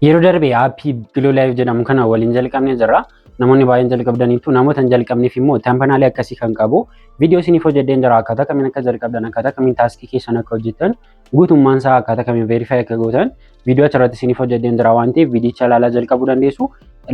Yeroo darbe aappii Giloo Live jedhamu kana waliin jalqabnee jirra. Namoonni baay'een jalqabdaniitu namoota hin jalqabneef immoo tampanaalii akkasii kan qabu viidiyoo isiniif hojjedheen jira akkaataa kamiin akka jalqabdan akkaataa kamiin taaskii keessan akka hojjettan guutummaan isaa akkaataa kamiin veerifaayi akka gootan viidiyoo achirratti isiniif hojjedheen jira waan ta'eef viidiyicha ilaalaa jalqabuu dandeessu.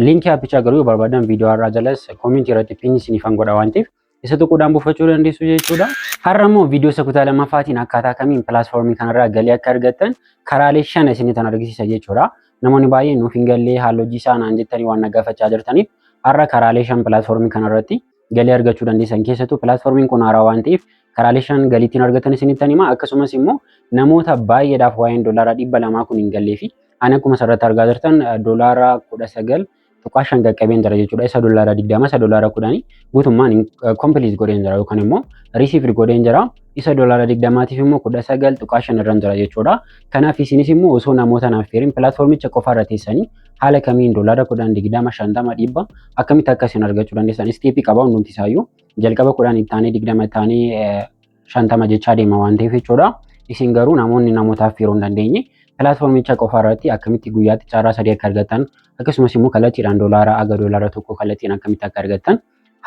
Liinkii aappichaa garuu yoo barbaadan viidiyoo har'aa jalas koomintii irratti piin isiniif godha waan ta'eef isa tuquudhaan buufachuu dandeessu jechuudha. Har'a immoo viidiyoo isa kutaa lamaffaatiin akkaataa kamiin pilaatfoormii kanarraa galii akka argattan karaalee shan isinitti argisiisa jechuudha. Namoonni baay'een nuuf hin gallee haala hojii isaa naan jettanii waan na gaafachaa jirtaniif har'a karaalee shan pilaatfoormii kanarratti galii argachuu dandeessan keessattuu pilaatfoormiin kun haaraa waan ta'eef karaalee shan galii ittiin argattan isinitti hima akkasumas immoo namoota baay'eedhaaf waa'een doolaara dhibba lamaa kun hin gallee fi ani akkuma asirratti argaa jirtan doolaara kudha sagal tuqaa shan qaqqabeen jira jechuudha. Isa doolaara digdama isa doolaara kudhanii guutummaan kompiiliis godheen jira yookaan immoo riisiifiid godheen jira. Isa doolaara digdamaatiif immoo kudha sagal tuqaa shan irra jira jechuudha. Kanaaf isinis immoo osoo namoota naaf feerin pilaatfoormicha qofaarra teessanii haala kamiin doolaara kudhan digdama shantama dhibba akkamitti akka isin argachuu dandeessan isteepii qaba hundumti isaayyuu jalqaba kudhan ittaanee digdama ittaanee shantama jechaa deema waan ta'eef jechuudha. Isin garuu namoonni namootaaf yeroo hin dandeenye pilaatfoormicha qofa irratti akkamitti guyyaatti carraa sadii akka argattan akkasumas immoo kallattiidhaan doolaara aga doolaara tokko kallattiin akkamitti akka argattan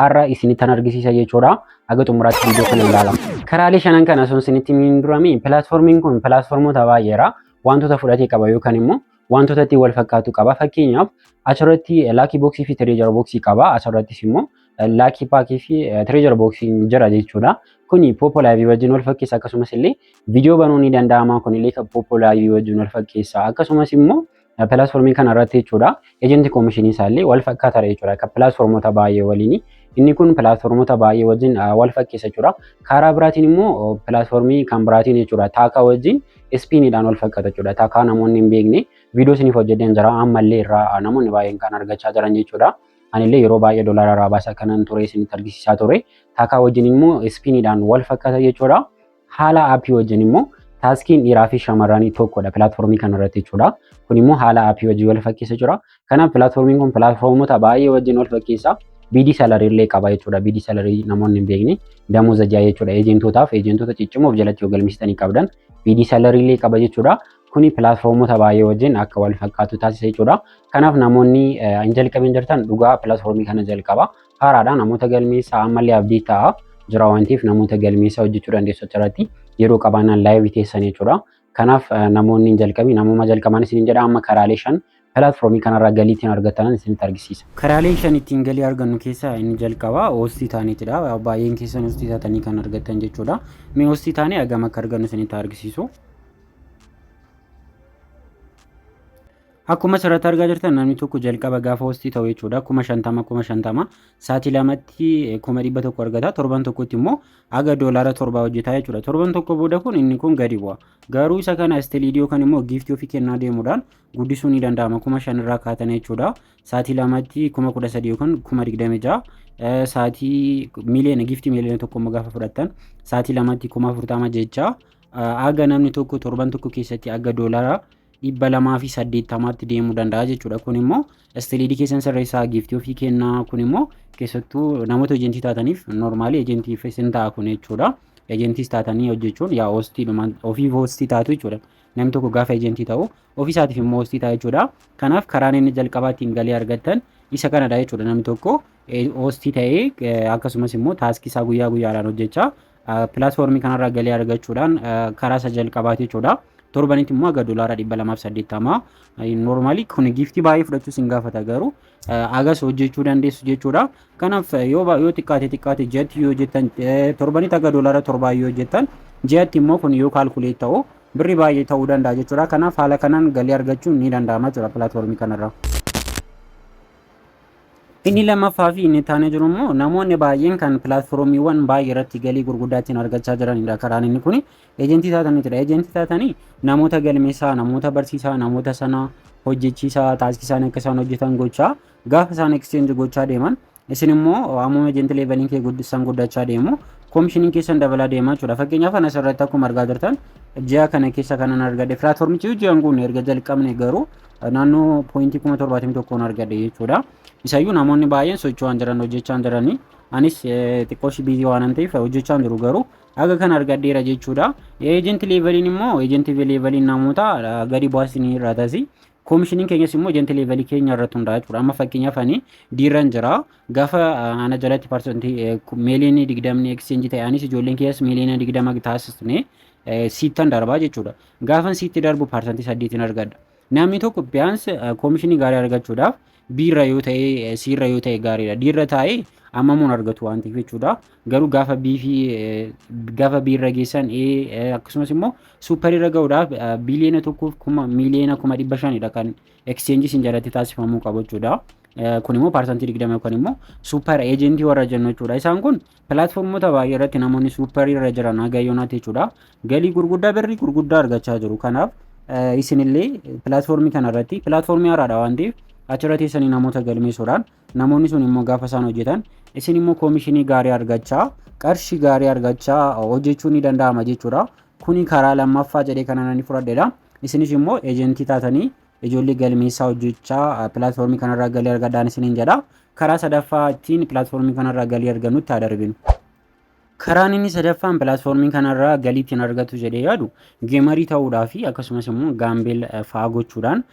har'a isinittan argisiisa jechuudha. Haga xumuraatti viidiyoo kana ilaala. Karaalee shanan kana osoo isinitti hin durame pilaatfoormiin kun pilaatfoormota baay'eera. Wantoota fudhatee qaba yookaan immoo wantoota itti wal fakkaatu qaba. Fakkeenyaaf asirratti laakii booksii fi tireejara booksii qaba. Asirrattis immoo laakii paakii fi tireejara booksiin jira jechuudha. Kuni poopoo laayivii wajjin wal fakkeessa akkasumas illee viidiyoo banuun ni danda'ama kun illee poopoo laayivii wajjin wal fakkeessa akkasumas immoo pilaatfoormii kana irratti jechuudha. Ejentii koomishinii isaa illee wal fakkaata jechuudha akka pilaatfoormota baay'ee waliin. Inni kun pilaatfoormota baay'ee wajjin wal fakkeessa jechuudha. Karaa biraatiin immoo pilaatfoormii kan biraatiin jechuudha taakaa wajjin ispiiniidhaan wal fakkaata jechuudha. Taakaa namoonni hin beekne viidiyoo isiniif hojjedheen jira ammallee irraa namoonni baay'een kan argachaa jiran jechuudha. Anillee yeroo baay'ee doolaara irraa baasa kanan ture isinitti argisiisaa ture. Taakaa wajjin immoo ispiiniidhaan wal fakkaata jechuudha. Haala aappii wajjin immoo taaskiin dhiiraa fi shamarranii tokkodha pilaatfoormii kanarratti jechuudha. Kun immoo haala aappii wajjin wal fakkeessa jira. Kanaaf pilaatfoormiin kun pilaatfoormota baay'ee wajjin wal fakkeessa. Biidii salarii illee qaba jechuudha. Biidii salarii namoonni hin beekne damuuza ja'a jechuudha. Eejentootaaf eejentoota ciccimoof jalatti yoo galmeessitanii qabdan biidii salarii illee qaba jechuudha. Kuni pilaatfoormota baay'ee wajjin akka wal fakkaatu taasisa jechuudha. Kanaaf namoonni hin jalqabin jirtan dhugaa pilaatfoormii kana jalqaba. Haaraadha namoota galmeessa ammallee abdii ta'a jira waan ta'eef namoota galmeessa hojjechuu dandeessu achirratti yeroo qabaannaan laayivii teessan jechuudha. Kanaaf namoonni hin jalqabin namooma jalqabaan isin jedha amma karaalee shan Pilaatfoormii kanarraa galii ittiin argattan isinitti argisiisa. Karaalee shan ittiin galii argannu keessaa inni jalqabaa hoostii taaniitidha. Baay'een keessan hoostii taatanii kan argattan jechuudha. Mee hoostii taanee hagam akka argannu isinitti argisiisu. Akkuma asirratti argaa jirtan namni tokko jalqaba gaafa hoostii ta'u jechuudha. Kuma shantama kuma shantama sa'aatii lamatti kuma dhibba tokko argata. Torban tokkotti immoo haga doolaara torbaa hojjetaa jechuudha. Torban tokko booda kun inni kun gadi bu'a. Garuu isa kana istiliidiyoo kan immoo giiftii ofii kennaa deemuudhaan guddisuu ni danda'ama kuma shan irraa kaatan jechuudha saatii lamatti kuma kudha sadii yookaan kuma digdami ja'a saatii miliyoona giftii miliyoona tokko immoo gaafa fudhattan saatii lamatti kuma afurtama jecha aga namni tokko torban tokko keessatti aga doolara dhibba lamaa fi saddeettamaatti deemuu danda'a jechuudha kun immoo istiliidii keessan sirreessaa giftii ofii kennaa kun immoo keessattuu namoota ejentii taataniif noormaalii ejentiif isin ta'a kun jechuudha ejentiis taatanii hojjechuun yaa hoostiidhuma ofiif hoostii taatu jechuudha. Namni tokko gaafa ejentii ta'u ofii isaatiif immoo hostii ta'a jechuudha. Kanaaf karaan inni jalqabaa ittiin galii argattan isa kanadha jechuudha. Namni tokko hostii ta'ee akkasumas immoo taaskii isaa guyyaa guyyaadhaan hojjechaa pilaatfoormii kanarraa galii argachuudhaan karaa isa jalqabaati jechuudha. Torbanitti immoo aga doolaara dhibba lamaaf saddeettamaa noormaali kun giiftii baay'ee fudhachuus hin gaafata garuu agas hojjechuu dandeessu jechuudha. Kanaaf yoo yoo xiqqaate xiqqaate ji'atti yoo jettan torbanitti akka doolaara torbaa yoo jettan ji'atti immoo kun yoo kaalkuleet ta'u birri baay'ee ta'uu danda'a jechuudha. Kanaaf haala kanaan galii argachuun ni danda'ama jechuudha pilaatfoormii kanarraa. Inni lammaffaa fi inni taanee jiru immoo namoonni baay'een kan pilaatfoormiiwwan baay'ee irratti galii gurguddaa ittiin argachaa jiranidha karaan inni kuni. Ejentii taataniitudha. Ejentii taatanii namoota galmeessaa, namoota barsiisaa, namoota sana hojjechiisaa, taaskii isaanii akka isaan hojjetan gochaa gaafa isaan exchange gochaa deeman isin immoo ammuma ejenti leeveliin kee guddistan guddachaa deemu koomishiniin keessan dabalaa deemaa jechuudha. Fakkeenyaaf anas irratti akkuma argaa jirtan ji'a kana keessa kanan argadhe pilaatfoormichi ji'an kun erga jalqabne garuu naannoo poointii kuma torbaatamii tokkoon argadhe jechuudha. Isayyuu namoonni baay'een socho'aan jiran hojjechaa jiranii anis xiqqoo ishii biizii waanan ta'eef hojjechaa jiru garuu Haga kan argadheera jechuudha. Eejenti leeveliin immoo eejenti leeveliin namoota ah, gadi baasni irraa tasi. Koomishiniin keenyas immoo eejenti leevelii keenya irratti hundaa'a jechuudha. Amma fakkeenyaaf ani diirran jira. Gaafa ah, ana jalatti parsantii eh, ku- miiliyoonii digdamni ekischeenji ta'e anis ijoolleen keenyas miiliyoona digdama taasisne eh, siittan darbaa jechuudha. Gaafan siitti darbu parsantii saddeetiin argadha. Namni tokko biyyaansi eh, koomishinii gaarii argachuudhaaf B irra yoo ta'e C irra yoo ta'e gaariidha. D irra taa'ee ammamuun argatu waan ta'eef jechuudha. Garuu gaafa B fi gaafa B irra geessan A akkasumas immoo suupper irra ga'uudhaaf biliyoona tokkoof kuma miiliyoona kuma dhibba shanidha kan exchange isin jalatti taasifamuu qabu jechuudha. Kun immoo paarsantii digdama yookaan immoo suupper eejentii warra jennu jechuudha. Isaan kun Pilaatfoormota baay'ee irratti namoonni suupparii irra jiran haga yoonaatti jechuudha. Galii gurguddaa birrii gurguddaa argachaa jiru. Kanaaf isinillee pilaatfoormii kana irratti pilaatfoormii haaraadha waan ta'eef achirra teessanii namoota galmeessuudhaan namoonni sun immoo gaafa isaan hojjetan isin immoo koomishinii gaarii argachaa qarshii gaarii argachaa hojjechuun ni danda'ama jechuudha. Kuni karaa lammaffaa jedhee kana nani fudhadheedha. Isinis immoo eejentii taatanii Ijoollee galmeessaa hojjechaa pilaatfoormii kanarraa galii argadhaan isiniin jedha. Karaa sadaffaa ittiin pilaatfoormii kanarraa galii argannutti haa darbinu. Karaan inni sadaffaan pilaatfoormii kanarraa galii ittiin argatu jedhee yaadu geemarii ta'uudhaa fi akkasumas immoo gaambeel fa'aa gochuudhaan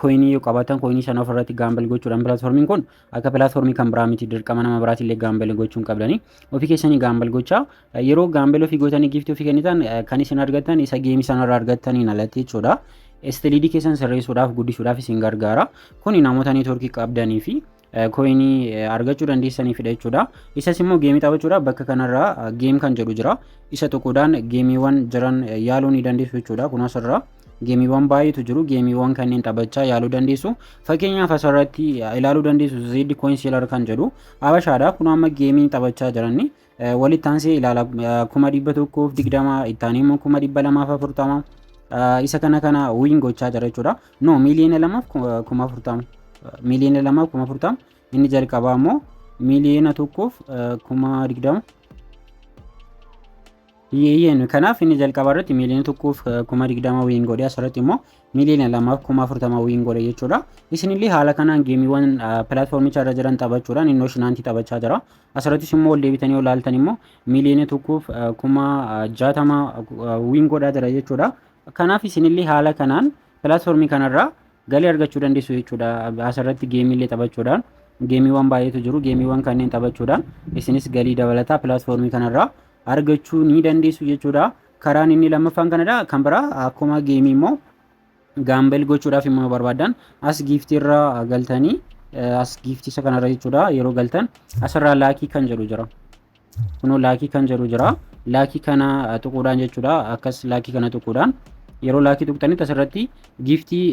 kooyinii yoo qabaatan kooyinii sana ofirratti gaambeel gochuudhaan pilaatfoormiin kun akka pilaatfoormii kan biraa miti dirqama nama biraatiin illee gaambel gochuun qabdanii ofii keessanii gaambel gochaa yeroo gaambel ofii gootanii giiftii ofii kennitan kan isin argattan isa geemii sanarraa argattaniin alatti jechuudha. Istiliidii keessan sirreessuudhaaf guddisuudhaaf isin gargaara. Kuni namoota neetwoorkii qabdanii fi koyinii argachuu dandeessaniifidha jechuudha. Isas immoo geemii taphachuudhaaf bakka kanarraa geem kan jedhu jira. Isa tokkodhaan geemiiwwan jiran yaaluu ni dandeessu jechuudha. Kun asirraa. Geemiiwwan baay'eetu jiru. Geemiiwwan kanneen taphachaa yaaluu dandeessu. Fakkeenyaaf asirratti ilaaluu dandeessu Zeed Coin Seelar kan jedhu Habashaadha. Kun amma geemii taphachaa jiran walitti aansee ilaala kuma dhibba tokkoof digdama itti aanee immoo kuma dhibba lamaaf afurtama isa kana kana wiin gochaa jira jechuudha. No miiliyoona lamaaf kuma afurtama miiliyoona lamaaf kuma afurtama inni jalqabaa immoo miiliyoona tokkoof kuma digdama Eeyyeen kanaaf inni jalqaba irratti miiliyoona tokkoof kuma digdama wiin godhe asirratti immoo miiliyoona lamaaf kuma afurtama wiin godhe jechuudha. Isinillee haala kanaan geemiiwwan pilaatfoormicha irra jiran taphachuudhaan innoo shinaantii taphachaa jira. Asirrattis immoo ol deebitanii ol ilaaltan immoo miiliyoona tokkoof kuma jaatama wiin godhaa jira jechuudha. Kanaaf isinillee haala kanaan pilaatfoormii kanarraa galii argachuu dandeessu jechuudha. Asirratti geemiillee taphachuudhaan geemiiwwan baay'eetu jiru. Geemiiwwan kanneen taphachuudhaan isinis galii dabalataa pilaatfoormii kanarraa argachuu ni dandeessu jechuudha. Karaan inni lammaffaan kanadha. Kan biraa akkuma geemii immoo gaambel gochuudhaaf immoo barbaadan as giiftii irra galtanii as giiftii isa kanarra jechuudha yeroo galtan asirraa laakii kan jedhu jira. Kunoo laakii kan jedhu jira. Laakii kana tuquudhaan jechuudha akkas laakii kana tuquudhaan yeroo laakii tuqxanitti asirratti giiftii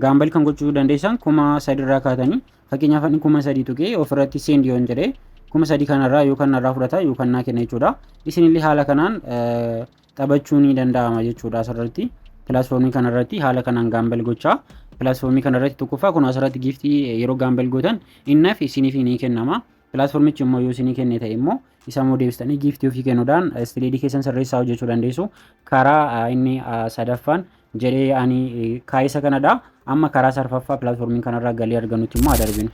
gaambel kan gochuu dandeessan kuma sadirraa kaatanii Fakkeenyaaf ani kuma sadii tuqee ofirratti send yoon jedhe kuma sadii kanarraa yoo kanarraa fudhata yoo kannaa kenna jechuudha. Isinillee haala kanaan taphachuu ni danda'ama jechuudha asirratti. Pilaatfoormii kanarratti haala kanaan gaambal gochaa pilaatfoormii kanarratti tokkoffaa kun asirratti giiftii yeroo gaambal gootan innaaf isiniif ni kennama. Pilaatformichi immoo yoo isinii kenne ta'e immoo isa immoo deebistanii giiftii ofii kennuudhaan istileedii keessan sirreessaa hojjechuu dandeessu. Karaa inni sadaffaan jedhee ani kaayisa kanadha. Amma karaa sarfaffaa pilaatformii kanarraa galii argannutti immoo adarbinu.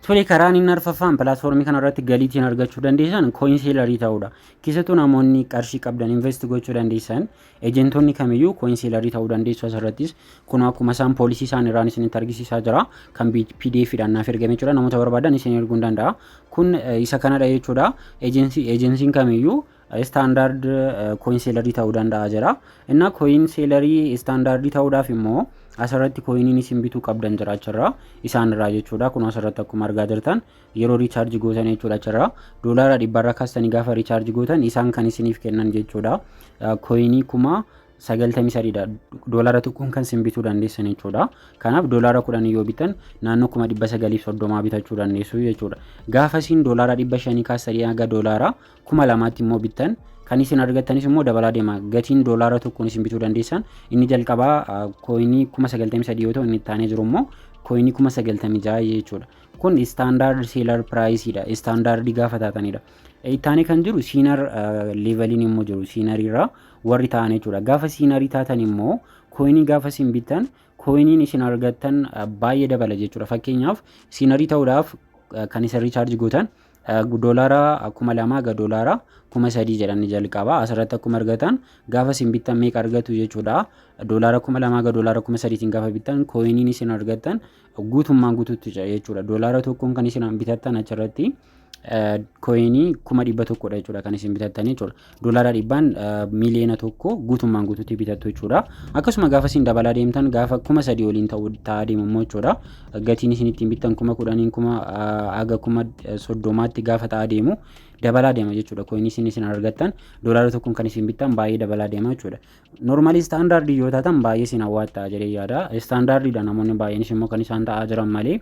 Tole karaan inni arfaffaan pilaatfoormii kanarratti galiitiin argachuu dandeessan kooyin seelarii ta'uudha. Keessattuu namoonni qarshii qabdan invest gochuu dandeessan Ejentoonni kamiyyuu koinsiilarii ta'uu dandeessu asirrattis kunoo akkuma isaan poolisii isaan irraan isinitti argisiisaa jira kan pdf dhaan naaf ergame jechuudha namoota barbaadan isin erguun danda'a kun isa kanadha jechuudha ejensiin kamiyyuu istaandaard koinsiilarii ta'uu danda'a jira inna koinsiilarii istaandaardii ta'uudhaaf immoo asirratti koiniin isin bituu qabdan jiraachirra isaan irraa jechuudha kun asirratti akkuma argaa jirtan yeroo riichaarji gootan jechuudha achirraa doolaara dhibbarra kaastanii gaafa riichaarji gootan isaan kan isiniif kennan jechuudha kooyinii kuma sagaltamii sadiidha doolaara tokkoon kan isin bituu dandeessan jechuudha kanaaf doolaara kudhan yoo bitan naannoo kuma dhibba sagaliif soddomaa bitachuu dandeessu jechuudha gaafa isin doolaara dhibba shanii kaastanii haga doolaara kuma lamaatti immoo bittan kan isin argattanis immoo dabalaa deema gatiin doolaara tokkoon isin bituu dandeessan inni jalqabaa kooyinii kuma sagaltamii sadii yoo ta'u inni itti aanee jiru immoo kooyinii kuma sagaltamii ja'a jechuudha kun standard seller price dha standard gaafa taatanidha ittaanii kan jiru siinar leeveliin immoo jiru siinarii irraa warri ta'an jechuudha gaafa siinarii taatan immoo kooyinii gaafa isin bittan kooyiniin isin argattan baay'ee dabala jechuudha fakkeenyaaf siinarii ta'uudhaaf kan isin riichaarji gootan doolaara kuma lamaa ga doolaara kuma sadii jedhanii jalqaba asirratti akkuma argatan gaafa isin bittan meeqa argatu jechuudha doolaara kuma lamaa ga doolaara kuma sadiitiin gaafa bittan kooyiniin isin argattan guutummaan guutuutti ce'e jechuudha. Doolaara tokkoon kan isin bitattan achirratti kooyinii kuma dhibba tokkodha jechuudha kan isin bitattan jechuudha. Doolaara dhibbaan miiliyoona tokko guutummaan guutuutti bitattu jechuudha. Akkasuma gaafa isin dabalaa deemtan gaafa kuma sadii oliin ta'u ta'aa deemammoo jechuudha. Gatiin isin ittiin bittan kuma kudhaniin kuma haga kuma soddomaatti gaafa ta'aa deemu dabalaa deema jechuudha. Kooyinii isin isin argattan doolaara tokkoon kan isin bittan baay'ee dabalaa deema jechuudha. Normally standard yoo taatan baay'ee siin hawwaattaa jedhee yaada. Standard dha namoonni baay'eenis immoo kan isaan ta'aa jiran malee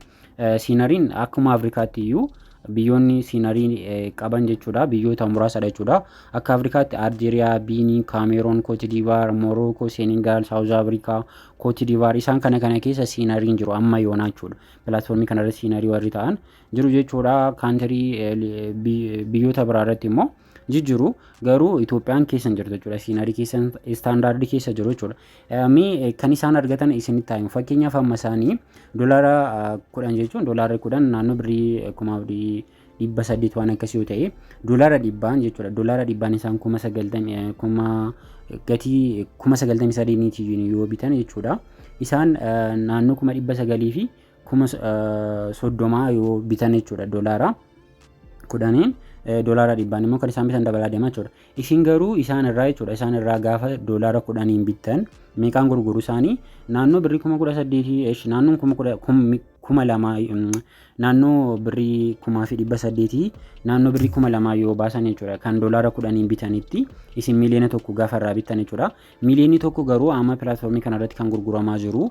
siinariin akkuma Afrikaatti iyyuu biyyoonni siinarii qaban jechuudha. Biyyoota muraasadha jechuudha. Akka Afrikaatti Aljeeriyaa, Biinii, Kaameeroon, Kootidivaar, Morookoo, Seenegaal, Saawuz Afrikaa, Kootidivaar isaan kana kana keessa siinariin jiru amma yoonaa jechuudha. Pilaatfoormii kanarratti siinarii warri ta'an jiru jechuudha. Kaantirii biyyoota biraarratti immoo jijjiru garuu Itoophiyaan keessa hin jirtu jechuudha. Siinarii keessa istaandaardii keessa jiru jechuudha. Mee kan isaan argatan isinitti himu fakkeenyaaf amma isaanii doolaara kudhan jechuun doolaarri kudhan naannoo birrii kuma dhibba saddeet waan akkasii yoo ta'e doolaara dhibbaan jechuudha. Doolaara dhibbaan isaan kuma sagaltamii kuma gatii kuma sagaltamii sadiiniitiin yoo bitan jechuudha. Isaan naannoo kuma dhibba sagalii fi kuma soddomaa yoo bitan jechuudha doolaara. kudhaniin doolaara dhibbaan immoo kan isaan bitan dabalaa deema jechuudha. Isin garuu isaan irraa jechuudha isaan irraa gaafa doolaara kudhaniin bittan meeqaan gurguru isaanii naannoo birrii kuma kudha saddeetii eesh naannoon kuma kudha kuma lamaa naannoo birrii kumaa fi dhibba saddeetii naannoo birrii kuma lamaa yoo baasan jechuudha kan doolaara kudhaniin bitanitti isin miiliyoona tokko gaafa irraa bittan jechuudha. Miiliyoonni tokko garuu amma pilaatfoormii kanarratti kan gurguramaa jiru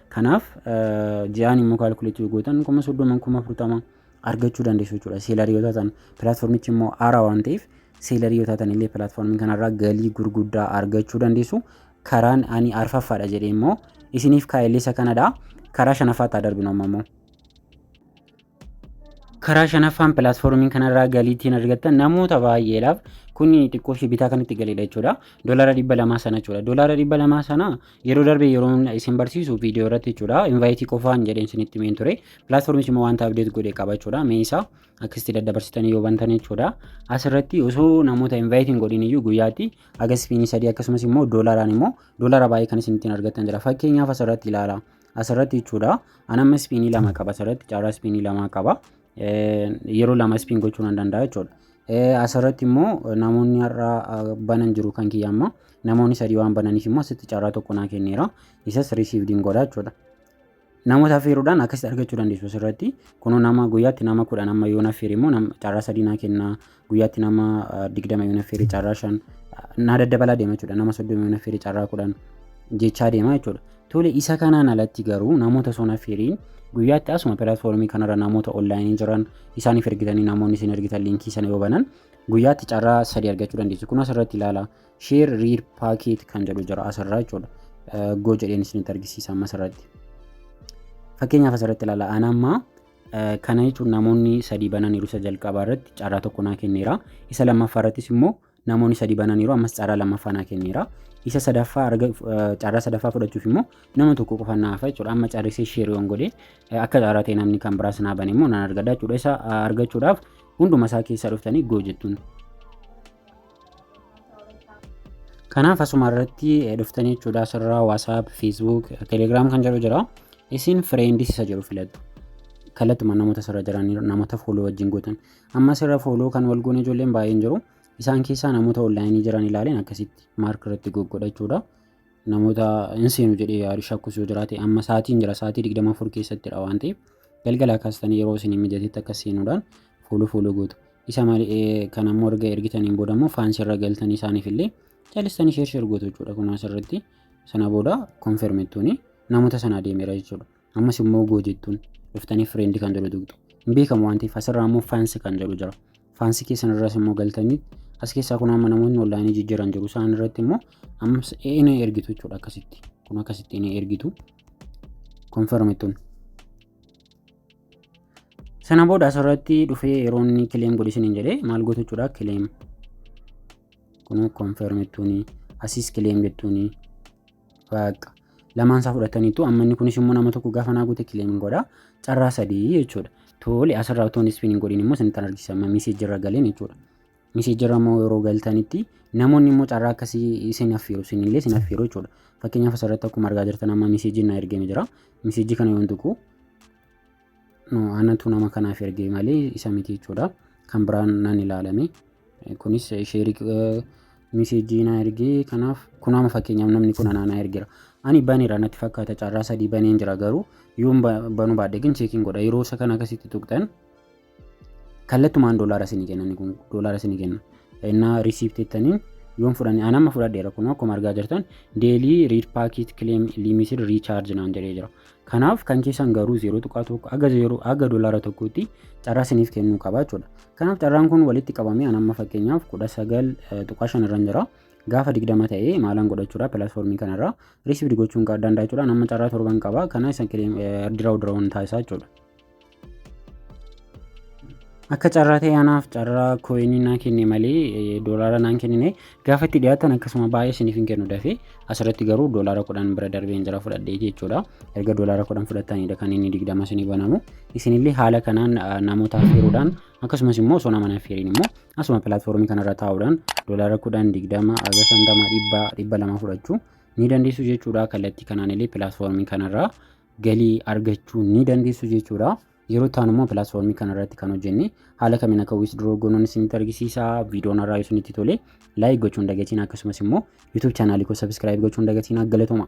Kanaaf ji'aan immoo kaalkuleetii yoo gootan kuma soddoma kuma afurtama argachuu dandeessu jechuudha. Seelarii yoo taatan pilaatfoormichi immoo haaraa waan ta'eef seelarii yoo taatan illee pilaatfoormii kanarraa galii gurguddaa argachuu dandeessu. Karaan ani arfaffaadha jedhee immoo isiniif kaa'ellee isa kanadha. Karaa shanaffaatti haa darbinu amma immoo. Karaa shanaffaan pilaatfoormii kanarraa galii ittiin argattan namoota baay'eedhaaf kun xiqqoo ishee bitaa kan itti galeedha jechuudha. Doolaara dhibba lamaa sana jechuudha. Doolaara dhibba lamaa sana yeroo darbe yeroo isin barsiisu viidiyoo irratti jechuudha. Invaayitii qofaan jedheen isinitti himeen ture. Pilaatfoormichi immoo wanta abdeet godhe qaba jechuudha. Mee isaa akkasitti daddabarsitanii yoo bantan jechuudha. Asirratti osoo namoota invaayitiin godhin iyyuu guyyaatti agas fiinii sadii akkasumas immoo doolaaraan immoo doolaara baay'ee kan isin ittiin argattan jira. Fakkeenyaaf asirratti ilaala. asirratti jechuudha. An amma ispiinii lama qaba asirratti carraa ispiinii lama qaba. Yeroo lama ispiin gochuu nan danda'a jechuudha. Asirratti immoo namoonni har'a banan jiru kan kiyya amma namoonni sadii waan bananiif immoo asitti carraa tokko naa kenneera. Isas risiivdiin godha jechuudha. Namoota affeeruudhaan akkasitti argachuu dandeessu asirratti. Kunoo nama guyyaatti nama kudhan amma yoo affeere immoo carraa sadii naa kenna. guyyaatti nama ah, 20 yoona firii carraa 5 naa daddabalaa deema jechuudha nama 30 yoona firii carraa 10 jechaa deema jechuudha tole isa kanaan alatti garuu namoota sona firiin guyyaatti asuma pilaatfoormii kanarra namoota onlaayinii jiran isaaniif ergitanii namoonni isin ergitan liinkii sana yoo banan guyyaatti carraa sadii argachuu dandeessu kun asirratti ilaala sheer riir paakeet kan jedhu jira asirraa jechuudha Eh, goo jedheen isinitti argisiisa amma asirratti fakkeenyaaf asirratti ilaala anammaa Kana jechuun namoonni sadii bananiiru isa jalqabaa irratti carraa tokko naa kenneera. Isa lammaffaa irrattis immoo namoonni sadii bananiiru ammas carraa lammaffaa naa kenneera. Isa sadaffaa arga carraa sadaffaa fudhachuuf immoo nama tokko qofa naa hafa jechuudha. Amma carrisee sheeriyoon godhe akka carraa ta'e namni kan biraas naa bane immoo nan argadha jechuudha. Isa argachuudhaaf hunduma isaa keessaa dhuftanii goo jettuun. Kanaaf asuma irratti dhuftanii jechuudha asirraa WhatsApp, Facebook, Telegram kan jedhu jira. Isin friends isa jedhu filadhu. Kallattumaan namoota asirra jiran namoota follow wajjin gootan. Amma asirra follow kan wal goone ijoolleen baay'een jiru. Isaan keessaa namoota online jiran ilaaleen akkasitti mark irratti goggodha jechuudha. namoota hin seenu jedhee yaadu shakkus yoo jiraate amma sa'aatiin jira sa'aatii 24 keessattidha waan ta'eef galgalaa kaastanii yeroo isin mijatetti akka seenuudhaan fuulu fuulu gootu. Isa malee kan ammoo erga ergitaniin booda immoo faansii irra galtanii isaaniif illee caalistanii sheer sheer gootu jechuudha kun asirratti sana booda konfirmittuuni namoota sana adeemera jechuudha. ammas immoo goo jettuun dhuftanii friend kan jedhu tuqxu hin beekamu waan ta'eef asirraa immoo faansi kan jedhu jira faansi keessan irras immoo galtanii as keessaa kun amma namoonni onlaayinii jijjiiran jiru isaan irratti immoo ammas inni ergitu jechuudha akkasitti kun akkasitti inni ergitu konfirmitun sana booda asirratti dhufee yeroo inni kileem godhe isiniin jedhee maal gootu jechuudha kileem kun konfirmitun asiis kileem jettuun Baaqqa. Lamaan isaa fudhataniitu amma inni kunis immoo nama tokko gaafa naa guute kileemin godha. Carraa sadii jechuudha. Tole asirraa otoo hin ispiniin godhin immoo isin kan argisiisa amma miseejirra galeen jechuudha. Miseejirra immoo yeroo galtanitti namoonni immoo carraa akkasii isin affeeru isin illee isin affeeru jechuudha. Fakkeenyaaf asirratti akkuma argaa jirtan amma miseejiin naa ergame jira. Miseejii kana yoon tuqu No, anatu nama kanaaf ergee malee isa miti jechuudha. Kan biraan nan ilaalame. Eh, Kunis eh, sheerii eh, miseejii na ergee kanaaf kun amma fakkeenyaaf namni kun anaa na ergeera. Ani baneera natti fakkaata carraa sadii baneen jira garuu yoon ba- banuu baadhe gin cheekiin godha yeroo isa kana akkasitti tuqxan kallattumaan doolaara isinii kenna inni kun doolaara isinii kenna. Innaa risiipti jettaniin yoon fudhanne an amma fudhadheera kun akkuma argaa jirtan deelii riid paakiit kileem liimiisid riichaarji naan jedhee jira. Kanaaf kan keessan garuu 0.1 haga 0 haga doolaara tokkotti carraa isiniif kennuu qaba jechuudha. Kanaaf carraan kun walitti qabamee anamma fakkeenyaaf 19.5 irra jira. Gaafa 20 ta'ee maalaan godhachuudha pilaatfoormii kanarraa riisivdi gochuun danda'a jechuudha. Anamma carraa torban qaba. Kana isa diraawuu diraawuun taasisaa jechuudha. akka carraa ta'e anaaf carraa kooyinii naan kenne malee eh, doolaara naan kennine gaafa itti dhiyaatan akkasuma baay'ee isiniif hin kennu dafee asirratti garuu doolaara kudhan bira darbeen jira fudhadhee jechuudha erga doolaara kudhan fudhatanidha kan inni digdama isinii banamu isinillee haala kanaan ah, namoota affeeruudhaan akkasumas immoo osoo nama hin affeerin immoo asuma pilaatfoormii kanarra taa'uudhaan doolaara kudhan digdama haga shantama dhibba dhibba lama fudhachuu ni dandeessu jechuudha kallattii kanaan illee pilaatfoormii kanarraa galii argachuu ni dandeessu jechuudha. Yeroo ta'an immoo pilaatfoormii kana irratti kan hojjenne haala kamiin akka withdraw goonuun isinitti argisiisa. Viidiyoon irraa isinitti tole like gochuun dagatiin akkasumas immoo YouTube chaanaalii koo subscribe gochuun dagatiin galatooma.